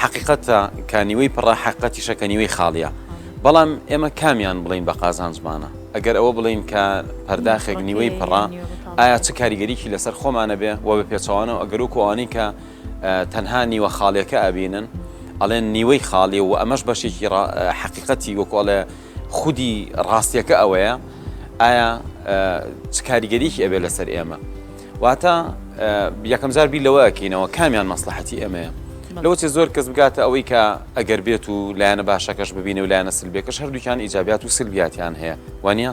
حەقیقەتە کە نیوەی پڕە حەقیقەتیشە کە نیوەی خاڵیە بەڵام ئێمە کامیان بڵێین بە قازانجمانە ئەگەر ئەوە بڵێین کە پەرداخێک نیوەی پڕە ئایا چ کاریگەریکی لەسەر خۆمانە بێ و بە پێچوانەوە ئەگەرۆک ئەوانی کە تەنها نیوە خاڵێکە ئەبینن ئەڵێن نیوەی خاڵی و ئەمەش بەشێکی حەقیقەتی وەکۆڵێ خودی ڕاستیەکە ئەوەیە ئایا چ کاریگەریکی ئەبێ لەسەر ئێمە واتە یەکەم جار بیر لەوە ئەکەینەوە کامیان مەسلحەتی ئەمەیە لەوەچێ زۆر کەس بگاتە ئەوەی کە ئەگەر بێت و لایەنە باشەکەش ببینە و لایەنە سلبێکەش هەردووکیان ئیجابات و سلبیاتیان هەیە وانە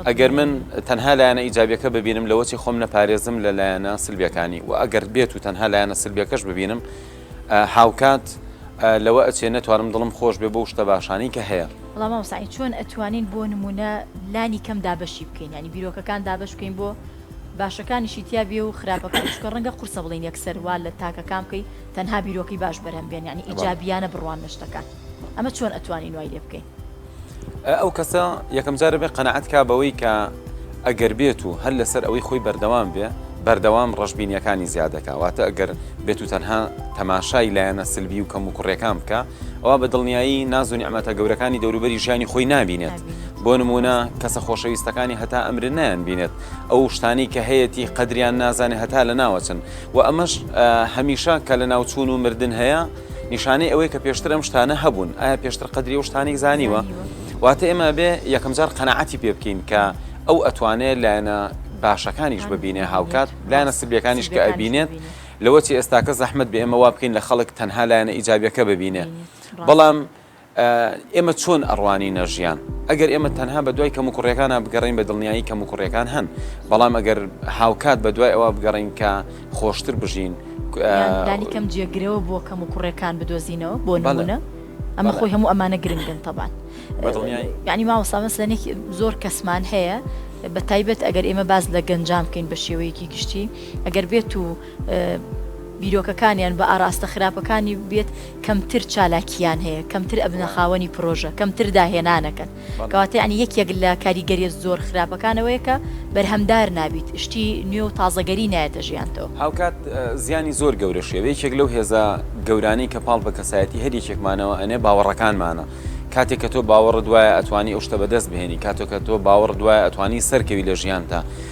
ئەگەر من تەنها لایەنە ئیجابەکە ببینم لەوەچی خۆم نەپارێزم لە لایەنە سلبیەکانی و ئەگەر بێت و تەنها لایەنە سلبیەکەش ببینم هاوکات لەوە ئەچێ نەتوانم دڵم خۆش بێ بۆ شتە باشانی کە هەیە ڵامامسای چۆن ئەتوانین بۆ نمونە لانی کەم دابەشی بکەین ینی بیرۆکەکان دابش بکەین بۆ باشەکانیشی تیا بێ و خراپەکان چونکە ڕەنگە قورسە بڵێین یەکسەر وا لە تاکە کام کەی تەنها بیرۆکەی باش بەرهەم بێن یانی ئیجابیانە بڕوان لە شتەکان ئەمە چۆن ئەتوانین وای لێ بکەین. ئەو کەسە یەکەم جارە بێ قەناعەت کا بەوەی کە ئەگەر بێت و هەر لەسەر ئەوەی خۆی بەردەوام بێ بەردەوام ڕەشبینیەکانی زیاد دەکا واتە ئەگەر بێت و تەنها تەماشای لایەنە سلبی و کەم و کوڕێکان بکا ئەوا بە دڵنیایی ناز و نیعمەتە گەورەکانی دەوروبەری ژیانی خۆی نابینێت بۆ نمونە کەسە خۆشەویستەکانی هەتا ئەمر نایان بینێت ئەو شتانی کە هەیەی قەدریان نازانێت هەتا لە ناوەچن و ئەمەش هەمیشە کە لە ناوچوون و مردن هەیە نیشانەی ئەوەی کە پێشتر ئەم شتانە هەبوون ئایا پێشتر قەدری و شتانێک زانیوە واتە ئێمە بێ یەکەم جار قەنەعەتی پێ بکەین کە ئەو ئەتوانێت لایەنە باشەکانیش ببینێ هاوکات لایەنە سبیەکانیش کە ئەبینێت لەوە چی ئێستاکە زەحمەت بێ ئێمە وا بکەین لە خەڵک تەنها لایەنە ئیجابیەکە ببینێ بەڵام ئێمە چۆن ئەڕوانینە ژیان ئەگەر ئێمە تەنها بە دوای کەمو کوڕیەکانە بگەڕین بە دڵنیایی کەمو کوڕیەکان هەن بەڵام ئەگەر هاوکات بە دوای ئەوە بگەڕین کە خۆشتر بژین دانیکەم جێگرەوە بۆ کەم و کوڕێکان بدۆزینەوە بۆ نمونە ئەمە خۆی هەموو ئەمانە گرنگن تەبان ینی ماوەسامەس لەنێک زۆر کەسمان هەیە بە تایبەت ئەگەر ئێمە باز لە گەنجام بکەین بە شێوەیەکی گشتی ئەگەر بێت و بیرۆکەکانیان بە ئاراستە خراپەکانی بێت کەمتر چالاکیان هەیە کەمتر ئەبنە خاوەنی پرۆژە کەمتر داهێنانەکەن کەواتە ینی یەکێک لە کاریگەریە زۆر خراپەکانەوەیە کە بەرهەمدار نابیت شتی نوێ و تازەگەری نایەتە ژیانتەوە هاوکات زیانی زۆر گەورە شێوە یەکێک لەو هێزە گەورانەی کە پاڵ بە کەسایەتی هەر یەکێکمانەوە ئەنێ باوەڕەکانمانە کاتێک کە تۆ باوەڕ دوایە ئەتوانی ئەو شتە بەدەست بهێنی کاتۆکە تۆ باوەڕ دوایە ئەتوانی سەرکەوی لە ژیانتە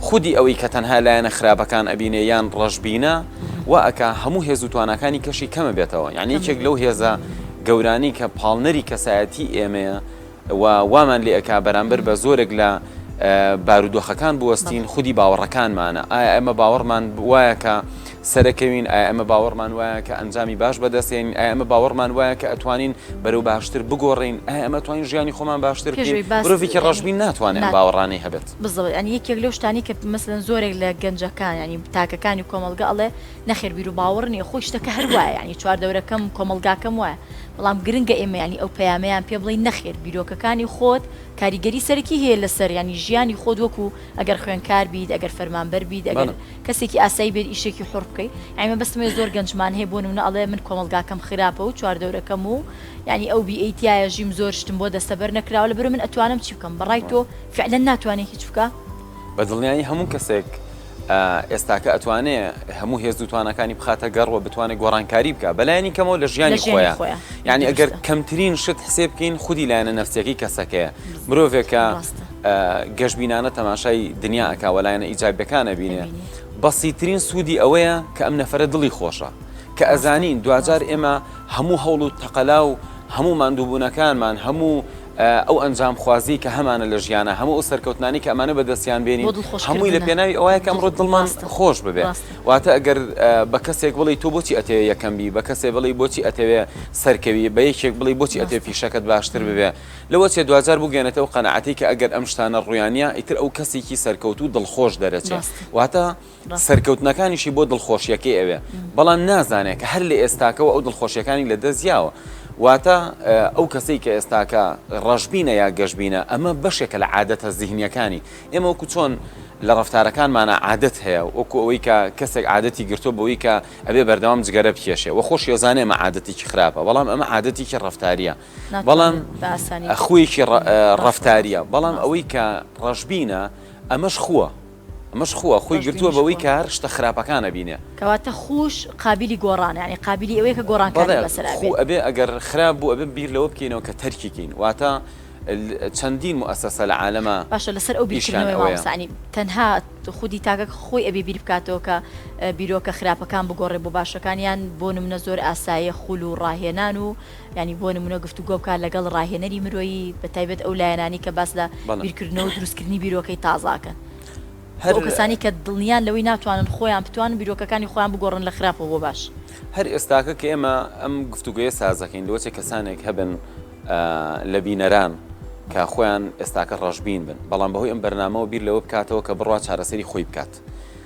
خودی ئەوەی کە تەنها لایەنە خراپەکان ئەبینێ یان ڕەشبینە وا ئەکا هەموو هێز و تواناکانی کەشی کەمە بێتەوە یعنی یەکێک لەو هێزە گەورانی کە پاڵنەری کەسایەتی ئێمەیە و وامان لێ ئەکا بەرامبەر بە زۆرێک لە بارودۆخەکان بوەستین خودی باوەڕەکانمانە ئایا ئەمە باوەڕمان وایە کە سەرەکەوین ئایا ئەمە باوەڕمان وایە کە ئەنجامی باش بەدەستێن ئایا ئەمە باوەڕمان وایە کە ئەتوانین بەرەو باشتر بگۆڕین ئایا ئەمە توانین ژیانی خۆمان باشتر مرۆڤێکی ڕژبین ناتوانێت باوەڕانەی هەبێت. بزڵێت یانی یەکێک لەو شتانەی کە مەسەلەن زۆرێک لە گەنجەکان یانی تاکەکانی کۆمەڵگە ئەڵێ نەخێر بیرو باوەڕ نیە خۆی شتەکە هەر وایە یانی چوار دەورەکەم کۆمەڵگاکەم وایە بەڵام گرنگە ئێمە یانی ئەو پەیامەیان پێ بڵێین نەخێر بیرۆکەکانی خۆت کاریگەری سەرەکی هەیە لەسەر یانی ژیانی خۆت وەکو ئەگەر خوێنکار بیت ئەگەر فەرمانبەر بیت ئەگەر کەسێکی ئاسایی بێت ئیشێکی حوڕ بکەی یانی مەبەستم ئەوەیە زۆر گەنجمان هەیە بۆ نمونە ئەڵێ من کۆمەڵگاکەم خراپە و چوار دەورەکەم و یانی ئەو بیئەی تیایە ژیم زۆر شتم بۆ دەستەبەر نەکراوە لەبەرئەوە من ئەتوانم چی بکەم بەڕای تۆ فعلەن ناتوانێ هیچ بکا. بە دڵنیایی هەموو کەسێک ئێستاکە ئەتوانێ هەموو هێز و تواناکانی بخاتە گەڕ و بتوانێ گۆڕانکاری بکا بە لایەنی کەمەوە لە ژیانی خۆیان یعنی ئەگەر کەمترین شت حسێ بکەین خودی لایەنە نەفسیەکەی کەسەکەیە مرۆڤێکە گەشببینانە تەماشای دنیا ئەکاوە لایەنە ئیجابەکانە بینێ بەسیترین سوودی ئەوەیە کە ئەم نەفرە دڵی خۆشە کە ئەزانین دوجار ئێمە هەموو هەوڵ و تەقەلا و هەموو مادووبوونەکانمان هەموو ئەو ئەنجامخوازیەی کە هەمانە لە ژیانا، هەموو ئەو سەرکەوتنانەی کە ئەمانە بەدەستیان بێنین، هەمووی لە پێناوی ئەوەیە کە ئەمڕۆ دڵمان خۆش ببێ. واتە ئەگەر بە کەسێک بڵێی تۆ بۆچی ئەتەوێ یەکەم بی، بە کەسێ بڵێی بۆچی ئەتەوێ سەرکەوی، بە یەکێک بڵێی بۆچی ئەتەوێ پیشەکەت باشتر ببێ، لەوە چێ دواجار بگەیەنێتە ئەو قەناعەتەی کە ئەگەر ئەم شتانە ڕوویانە ئیتر ئەو کەسێکی سەرکەوتوو دڵخۆش دەرەچێ. واتە. سەرکەوتنەکانیشی بۆ دڵخۆشیەکەی ئەوێ، بەڵام نازانێ کە هەر لە ئێستاکەوە ئەو دڵخۆشیەکانی لە دەست یاوە. واتە ئەو کەسەی کە ئێستاکە ڕەشبینە یا گەشبینە ئەمە بەشێکە لە عادەتە زیهنیەکانی. ئێمە وەکو چۆن لە ڕەفتارەکانمانا عادەت هەیە، وەکو ئەوەی کە کەسێک عادەتی گرتوە بەوەی کە ئەبێ بەردەوام جگەرە بکێشێ و خۆشی ئەزانێ ئەمە عادەتێکی خراپە بەڵام ئەمە عادەتێکی ڕەفتاریە بەڵام خویەکی ڕەفتاریە بەڵام ئەوەی کە ڕەشبینە ئەمەش خوە. ئەمەش خووە خۆی گرتووە بەوەی کە هەر شتە خراپەکان ئەبینێ. کەواتە خووش قابیلی گۆڕانە یانی قابیلی ئەوەیە کە گۆڕانکاری بەسەرا بێت. بەڵێ خوو ئەبێ ئەگەر خراپ بوو ئەبێ بیر لەوە بکەینەوە کە تەرکی کەین واتە چەندین موئەسەسە لە عالەما ئیشیان ئەوەیە. باشە لەسەر ئەو بیرکردنەوەی مامۆستا یانی تەنها خودی تاکەک خۆی ئەبێ بیر بکاتەوە کە بیرۆکە خراپەکان بگۆڕێ بۆ باشەکان یان بۆ نمونە زۆر ئاسایە خوول و ڕاهێنان و یانی بۆ نمونە گفتوگۆ بکات لەگەڵ ڕاهێنەری مرۆیی بە تایبەت ئەو لایەنانەی کە باس لە بیرکردنەوە و دروستکردنی بیرۆکەی تازە ئەکەن بۆ ئەو کەسانەی کە دڵنیان لەوەی ناتوانن خۆیان بتوانن بیرۆکەکانی خۆیان بگۆڕن لە خراپەوە بۆ باش. هەر ئێستاکە کە ئێمە ئەم گفتوگۆیە ساز ئەکەین لۆچە کەسانێک هەبن لە بینەران کە خۆیان ئێستاکە ڕەشبین بن بەڵام بەهۆی ئەم بەرنامەوە بیر لەوە بکاتەوە کە بڕوا چارەسەری خۆی بکات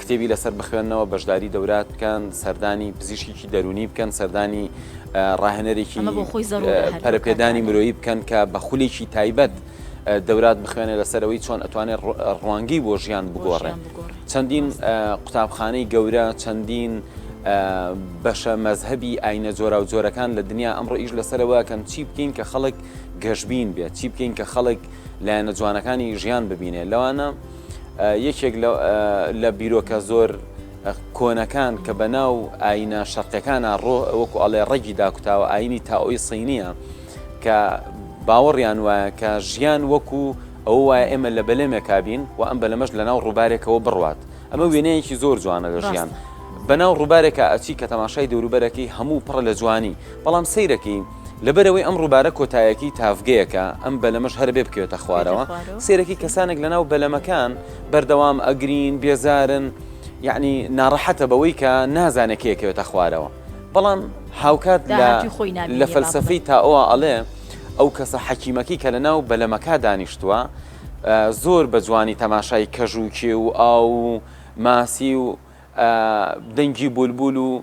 کتێبی لەسەر بخوێننەوە، بەشداری دەورات بکەن، سەردانی پزیشکیکی دەروونی بکەن، سەردانی ڕاهێنەرێکی پەرەپێدانی مرۆیی بکەن کە بە خولێکی تایبەت دەورات بخوێنێ لەسەرەوەی چۆن ئەتوانێت ڕوانگەی بۆ ژیان بگۆڕێ چەندین قوتابخانەی گەورە چەندین بەشە مەذهبی ئاینە جۆرا و جۆرەکان لە دنیا ئەمڕۆ ئیش لەسەرەوە کەم چی بکەین کە خەڵک گەشببین بێت چی بکەین کە خەڵک لایەنە جوانەکانی ژیان ببینێ لەوانە یەکێک لە بیرۆکە زۆر کۆنەکان کە بە ناو ئاینە شەرقەکانە ڕۆ وەکو ئەڵێ ڕەگی داکوتاوە ئاینی تاوی سینیە کە باوەڕیان وایە کە ژیان وەکو ئەو وایە ئێمە لە بەلێمێکا بین و ئەم بەلەمەش لە ناو ڕووبارێکەوە بڕوات ئەمە وێنەیەکی زۆر جوانە لە ژیان. بەناو ڕووبارێکە ئەچی کە تەماشای دەوروبەرەکەی هەموو پڕە لە جوانی بەڵام سیرەکەی لەبەرئەوەی ئەم ڕووبارە کۆتایەکی تاڤگەیەکە ئەم بەلەمەش هەربێ بکەوێتە خوارەوە سێرەکی کەسانێک لەناو بەلەمەکان بەردەوام ئەگرین بێزارن یعنی ناڕەحەتە بەوەی کە نازانێت کێکەوێتە خوارەوە بەڵام هاوکات لە فەلسفەی تاەوە ئەڵێ ئەو کەسە حەکیمەکەی کە لەناو بەلەمەکە دانیشتووە زۆر بە جوانی تەماشای کەژووکێ و ئاو و ماسی و دەنگی بولبول و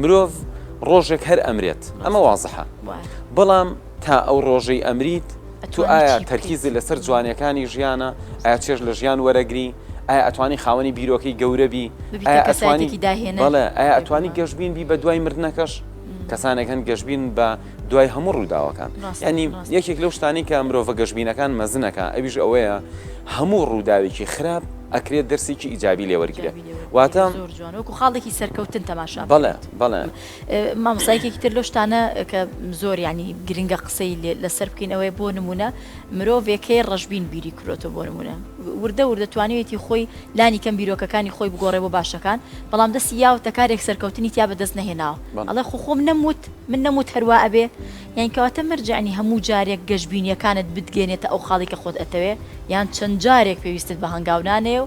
مرۆڤ ڕۆژێک هەر ئەمرێت ئەمە وازحە بەڵام تا ئەو ڕۆژەی ئەمریت تو ئایا تەرکیزی لەسەر جوانیەکانی ژیانە ئایا چێژ لە ژیان وەرەگری ئایا ئەتوانی خاوەنی بیرۆکەی گەورەبی ئەتوانی داهێنە ئایا ئەتوانی گەشتبین بی بە دوای مردنەکەش کەسانێک هەن گەشتبین بە دوای هەموو ڕووداوەکان ینی یەکێک لەو شتانی کە مرۆڤە گەشتبینەکان مەزنەکە ئەویش ئەوەیە هەموو ڕووداوێکی خراپ ئەکرێت دەرسێکی ئیجابی لێوەرگێت واتە زۆر جوان وەکو خاڵێکی سەرکەوتن تەماشا بەڵێ بەڵێ مامۆسایکێکی تر لۆ شتانە کە زۆر ینی گرنگە قسەی لەسەر بکەین ئەوەیە بۆ نمونە مرۆڤێکەی ڕژبین بیری کرۆتە بۆ نمونە وردە وردە توانێتی خۆی لانی کەم بیرۆکەکانی خۆی بگۆڕێ بۆ باشەکان بەڵام دەستی یاوتە کارێک سەرکەوتنی تیا بەدەست نەهێناوە ئەڵێ خۆ خۆم نەموت من نەموت هەروە ئەبێ یان کەواتە مەرجعنی هەموو جارێک گەشببینیەکانت بتگەێنێتە ئەو خاڵی کە خۆت ئەتەوێ یان چەند جارێک پێویستت بە هەنگاونانەیە و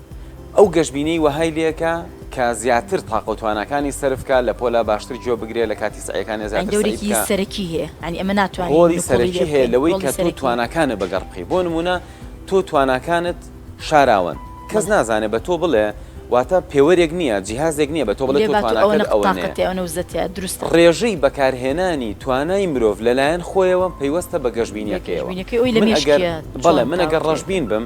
ئەو گەشبینیی وەهای لێکا کە زیاتر تاقە و تواناکانی سەرف کا، لە پۆلا باشتر جۆ بگرێ، لە کاتی سەعیەکانێ زیاتر سەعی بکا. یانی دەورێکی سەرەکی هەیە، یانی ئەمە ناتوانین نکوڵی لێ بکەین. ڕۆڵی سەرەکی هەیە لەوەی کە تۆ تواناکانت بە گەڕ بکەی. بۆ نموونە تۆ تواناکانت شاراوەن، کەس نازانێ بە تۆ بڵێ، واتە پێوەرێک نییە، جیهازێک نییە بە تۆ بڵێ تۆ تواناکەت ئەوەنەیە. ڕێژەی بەکارهێنانی توانای مرۆڤ لە لایەن خۆیەوە پەیوەستە بە گەشبینییەکەیەوە. من ئەگەر ڕەشبین بم.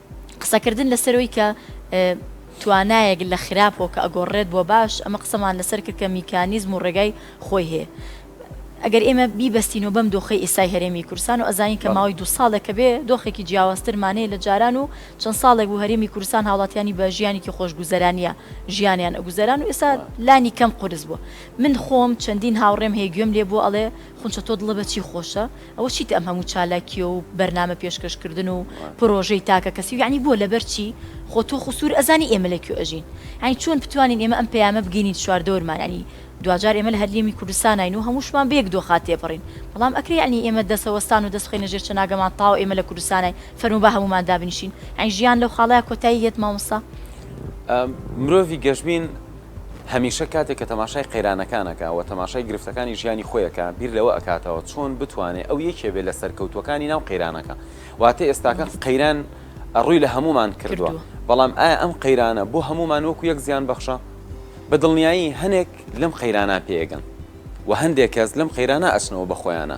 قسەکردن لەسەر ئەوەی کە توانایەک لە خراپەوە کە ئەگۆڕرێت بۆ باش، ئەمە قسەمان لەسەر کرد کە میکانیزم و ڕێگای خۆی هەیە. ئەگەر ئێمە بیبەستینەوە بەم دۆخەی ئێستای هەرێمی کوردستان و ئەزانین کە ماوەی دوو ساڵێک کە بێ دۆخێکی جیاوازترمان هەیە لە جاران و چەند ساڵێک بوو هەرێمی کوردستان هاوڵاتیانی بە ژیانێکی خۆشگوزەرانییە ژیانیان ئەگوزەران و ئێستا لانی کەم قورس بووە. من خۆم چەندین هاوڕێم هەیە گوێم لێ بووە ئەڵێ خونچە تۆ دڵە بە چی خۆشە؟ ئەوە چیتە ئەم هەموو چالاکیە و بەرنامە پێشکەش کردن و پرۆژەی تاکە کەسی و یەعنی بۆ لەبەر چی خۆ تۆ خو سور ئەزانی ئێمە لە کوێ ئەژین یەعنی چۆن بتوانین ئێمە ئەم پەیامە بگەینین چواردەورمان یەعنی دواجار ئێمە لە هەرێمی کوردستاناین و هەمووشمان بەیەک دۆخا تێپەرین بەڵام ئەکرێ یەعنی ئێمە دەسە وەستان و دەس بخەینە ژێر چەناگەمان تاو ئێمە لە کوردستاناین فەرموو با هەموومان دابنیشین یەعنی ژیان لەو خاڵەیا کۆتایی هێت مامۆستا مرۆڤی گەشبین. هەمیشە کاتێک کە تەماشای قەیرانەکان ئەکا و تەماشای گرفتەکانی ژیانی خۆی ئەکا بیر لەوە ئەکاتەوە چۆن بتوانێ ئەو یەکێ بێ لە سەرکەوتووەکانی ناو قەیرانەکە واتە ئێستاکە قەیران ڕووی لە هەموومان کردووە کردووە. بەڵام ئایا ئەم قەیرانە بۆ هەموومان وەکو یەک زیان بەخشە؟ بە دڵنیایی هەنێک لەم قەیرانە پێ ئەگەن و هەندێک کەس لەم قەیرانە ئەچنەوە بە خۆیانا.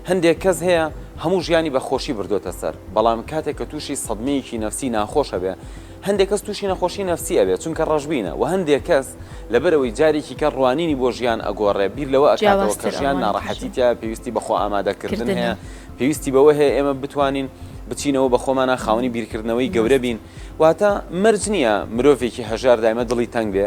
هەندێک کەس هەیە هەموو ژیانی بە خۆشی بردۆتە سەر، بەڵام کاتێک کە تووشی سەدمەیەکی نەفسی ناخۆش ئەبێ، هەندێک کەس تووشی نەخۆشی نەفسی ئەبێ چونکە ڕەشبینە وە هەندێک کەس لەبەرئەوەی جارێکی کەر ڕوانینی بۆ ژیان ئەگۆڕێ بیر لەوە ئەکاتەوە کە ژیان ناڕەحەتی تیایە پێویستی بە خۆئامادەکردن هەیە پێویستی بەوە هەیە ئێمە بتوانین بچینەوە بە خۆمانا خاوەنی بیرکردنەوەی گەورە بین واتە مەرج نییە مرۆڤێکی هەژار دایمە دڵی تەنگ بێ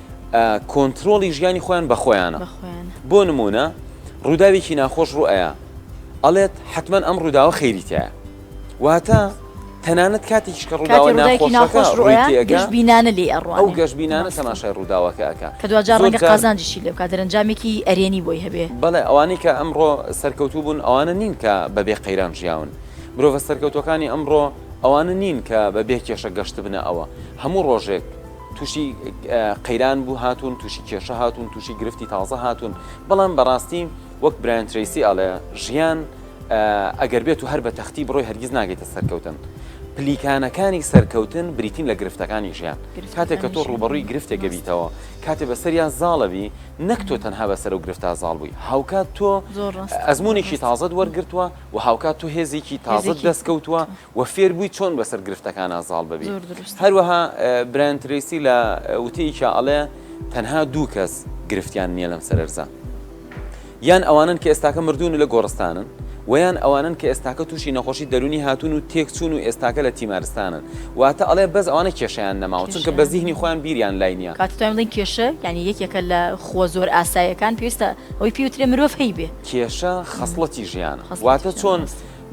کۆنترۆڵی ژیانی خۆیان بە خۆیانە بۆ نمونە ڕووداوێکی ناخۆش ڕوئەیە ئەڵێت حتمما ئەم ڕووداوە خێریتە واتە تەنانەت کاتێکیش کە ڕووداوی ناخۆش ڕوئەگەشبینانە لێ ئەڕوە ئەو گەشبینانە سەماشای ڕووداوەکەکە کە دوجار ڕەنگە قازانجیشی لێ بکات دەرەنجامێکی ئەرێنی بۆی هەبێ بەڵێ ئەوانەی کە ئەمڕۆ سەرکەوتوو بوون ئەوانە نین کە بەبێ قەیران ژیاون مرۆڤە سەرکەوتوەکانی ئەمڕۆ ئەوانە نین کە بە بێ کێشە گەشتبنە ئەوە هەموو ڕۆژێک تووشی قەیران بوو هاتوون تووشی کێشە هاتوون تووشی گرفتی تازە هاتوون بەڵام بەڕاستی وەک برایان تریسی ئەڵێ ژیان ئەگەر بێت و هەر بە تەختی بڕۆی هەرگیز ناگەیتە سەرکەوتن پلیکانەکانی سەرکەوتن بریتین لە گرفتەکانی ژیان کاتێک کە تۆ ڕوبەڕووی گرفتێکە بیتەوە کاتێ بەسەریا زاڵەوی نەک تۆ تەنها بەسەر و گرفتا زاڵ بووی هاوکات تۆ ئەزمونێکی تازەت وەرگتووە و هاوکات تۆ هێزێکی تازەت دەست کەوتووە و فێر بووی چۆن بەسەر گرفتەکانە زاڵ ببی هەروەها برایان تریسی لە وتەیەکی ئەڵێ تەنها دوو کەس گرفتیان نییە لەم سەرەرزە یان ئەوانن کە ئێستاکە مردوون لە گۆڕستانن ویان ئەوانن کە ئێستاکە تووشی نەخۆشی دەرونی هاتون و تێکچون و ئێستاکە لە تیمارستانن واتە ئەڵێ بەس ئەوانە کێشیان نەماوە چونکە بە زیهنی خۆیان بیریان لای نییە کاتتان بڵین کێشە ینی یەکێکە لە خۆ زۆر ئاسایەکان پێویستە ئەوی پێوترێ مرۆڤ هەیبێ کێشە خەسڵەتی ژیانە. واتە چۆن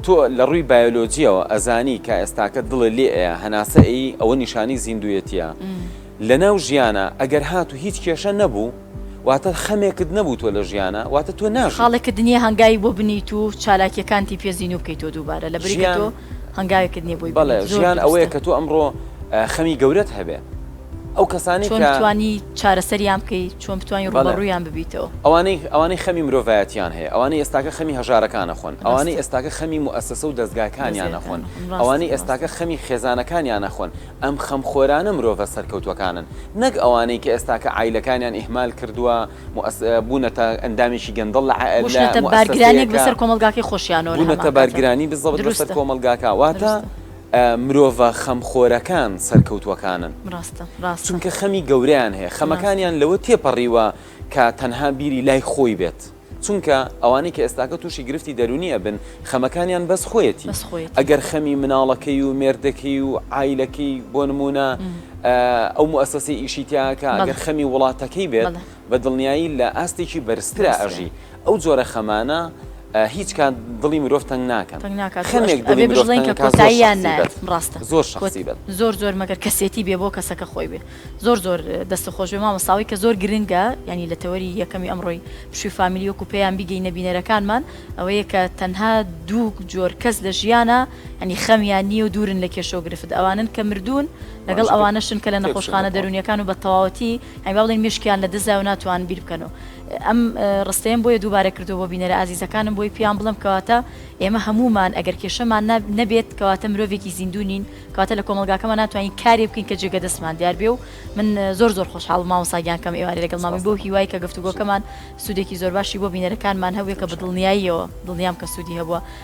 تۆ لە ڕووی بایۆلۆجییەوە ئەزانی کە ئێستاکە دڵێ لێ ئەیە هەناسە ئەیی ئەوە نیشانی زیندووێتیە لەناو ژیانە ئەگەر هات و هیچ کێشە نەبوو واتە خەمێکت نەبوو تۆ لە ژیانە واتە تۆ ناژی. خاڵێکت نییە هەنگاوی بۆ بنێیت و چالاکییەکانتی پێ زیندوو بکەیتەوە دووبارە لەبری کە تۆ هەنگاوێکت نییە بۆی بنێیت. بەڵێ ژیان ئەوەیە کە تۆ ئەمڕۆ خەمی گەورەت هەبێ. ئەو کەسانەی کە. چۆن بتوانی چارەسەریان بکەی؟ چۆن بتوانی ڕووبەڕوویان ببیتەوە؟ ئەوانەی ئەوانەی خەمی مرۆڤایەتیان هەیە، ئەوانەی ئێستاکە خەمی هەژارەکان ئەخۆن، ئەوانەی ئێستاکە خەمی موئەسەسە و دەزگاکانیان ئەخۆن، ئەوانەی ئێستاکە خەمی خێزانەکانیان ئەخۆن، ئەم خەمخۆرانە مرۆڤە سەرکەوتووەکانن، نەک ئەوانەی کە ئێستاکە عایلەکانیان ئیهمال کردووە، موئەس بوونەتە ئەندامێکی گەندەڵ لە عە لە موئەسەسەیەکا. بوونەتە بارگرانییەک بەسەر کۆمەڵگاکەی خۆشیانەوە لە هەمان کاتدا. بوونەتە بارگرانی بزەبت بەسەر کۆمەڵگاکە. واتە. دروستە. مرۆڤە خەمخۆرەکان سەرکەوتووەکانن. ڕاستە ڕاستە. چونکە خەمی گەورەیان هەیە. خەمەکانیان لەوە تێپەڕیوە کە تەنها بیری لای خۆی بێت. چونکە ئەوانەی کە ئێستاکە تووشی گرفتی دەروونی ئەبن خەمەکانیان بەس خۆیەتی. بەس خۆیەتی. ئەگەر خەمی مناڵەکەی و مێردەکەی و عایلەکەی بۆ نموونە ئەو موئەسەسەی ئیشی تیاکا ئەگەر خەمی وڵاتەکەی بێت بە دڵنیایی لە ئاستێکی بەرزترا ئەژی. ئەو جۆرە خەمانە هیچ کات دڵی مرۆڤ تەنگ ناکەن. تەنگ ناکات و ئەشت ئەبێ بژڵێین کە کۆتاییان نایەت. ڕاستە. زۆر شەخسی بن. زۆر زۆر مەگەر کەسێتی بێ بۆ کەسەکە خۆی بێ. زۆر زۆر دەستت خۆش بێ مامۆستا ئەوەی کە زۆر گرنگە یانی لە تەوەری یەکەمی ئەمڕۆی پشووی فامیلی وەکوو پێیان بیگەینە بینەرەکانمان ئەوەیە کە تەنها دوو جۆر کەس لە ژیانا یانی خەمیان نییە و دوورن لە کێشە و گرفت ئەوانەن کە مردوون لەگەڵ ئەوانەشن کە لە نەخۆشخانە دەروونییەکان و بە تەواوەتی یانی با بڵێین مێشکیان لە دزایەو ناتوانن بیر بکەنەوە. ئەم ڕستەیەم بۆیە دووبارە کردووە بۆ بینەرە ئازیزەکانم بۆی پێیان بڵێم کەواتە ئێمە هەموومان ئەگەر کێشەمان نەبێت کەواتە مرۆڤێکی زیندوو نین کەواتە لە کۆمەڵگاکەمان ناتوانین کارێ بکەین کە جێگە دەستمان دیار بێ و من زۆر زۆر خۆشحاڵم مامۆستا گیان کەم ئێوارێ لەگەڵ مامی بەو هیوای کە گفتوگۆکەمان سوودێکی زۆر باشی بۆ بینەرەکانمان هەبوێ کە بە دڵنیاییەوە دڵنیام کە سوودی هەبووە.